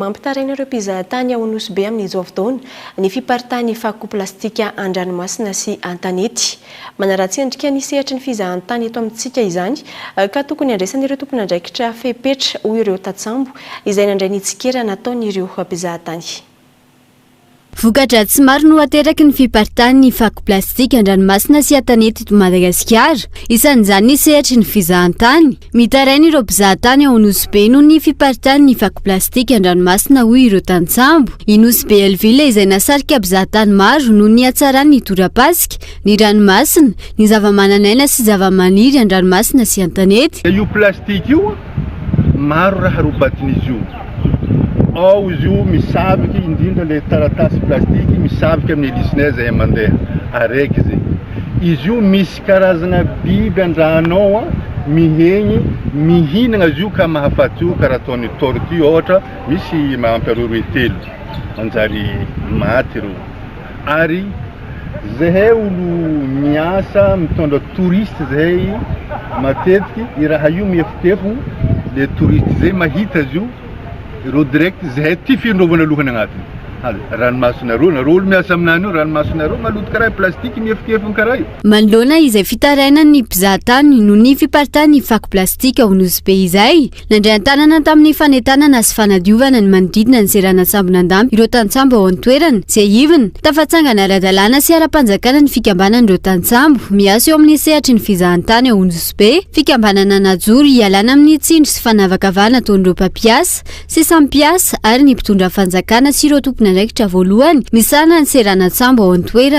Mampitaraina ireo mpizahatany ao Nosy Be amin'izao fotoana ny fiparitahan'ny fako plastika an-dranomasina sy an-tanety. Manaratsy endrika ny sehatry ny fizahantany eto amintsika izany ka tokony handraisan'ireo tompon'andraikitra fepetra, hoy ireo tantsambo izay nandray ny tsikera nataon'ireo mpizahatany. Voka-dratsy maro no ateraky ny fiparitahan'ny fako plastika an-dranomasina sy an-tanety eto Madagasikara. Isan'izany ny sehatry ny fizahantany. Mitaraina ireo mpizaha tany ao Nosy Be noho ny fiparitahan'ny fako plastika an-dranomasina hoy ireo tantsambo. I Nosy Be Elvile izay nahasarika mpizaha tany maro noho ny hatsarany ny tora-pasika, ny ranomasina, ny zava-manan'aina sy zava-maniry an-dranomasina sy an-tanety. maro raha robatin'izy io. Ao izy io misavika indrindra ilay taratasy plastiky misavika amin'ny helisinay izay mandeha araiky izay. Izy io misy karazana biby an-drano ao a, mihegny, mihinagna azy io ka mahafaty io karaha ataon'ny tortue ohatra, misy mahampy aroa roe telo manjary maty ireo. Ary zahay olo miasa mitondra touriste zahay matetiky i raha io miefopefo le touriste zay mahita azy io reo direct zahay ty findrovana lohany agnatiny ary ranomasonareo nareo olo miasa aminany io ranomasonareo maloto karaha plastique miefokefony karaha io. Manoloana izay fitarainan'ny mpizahatany noho ny fiparitahan'ny fako plastika ao Nosy Be izay, Nandray an-tanana tamin'ny fanentanana sy fanadiovana ny manodidina ny seranan-tsambon'Andamby ireo tantsambo ao an-toerana. Tsiahivina, tafatsangana ara-dalàna sy ara-panjakana ny fikambanan'ireo tantsambo miasa eo amin'ny sehatry ny fizahantany ao Ondosibe, fikambanana najoro hialana amin'ny tsindry sy fanavakavahana ataon'ireo mpampiasa sy samy mpiasa ary ny mpitondra fanjakana sy ireo tompon'andraikitra voalohany misahana ny seranan-tsambo ao an-toerana.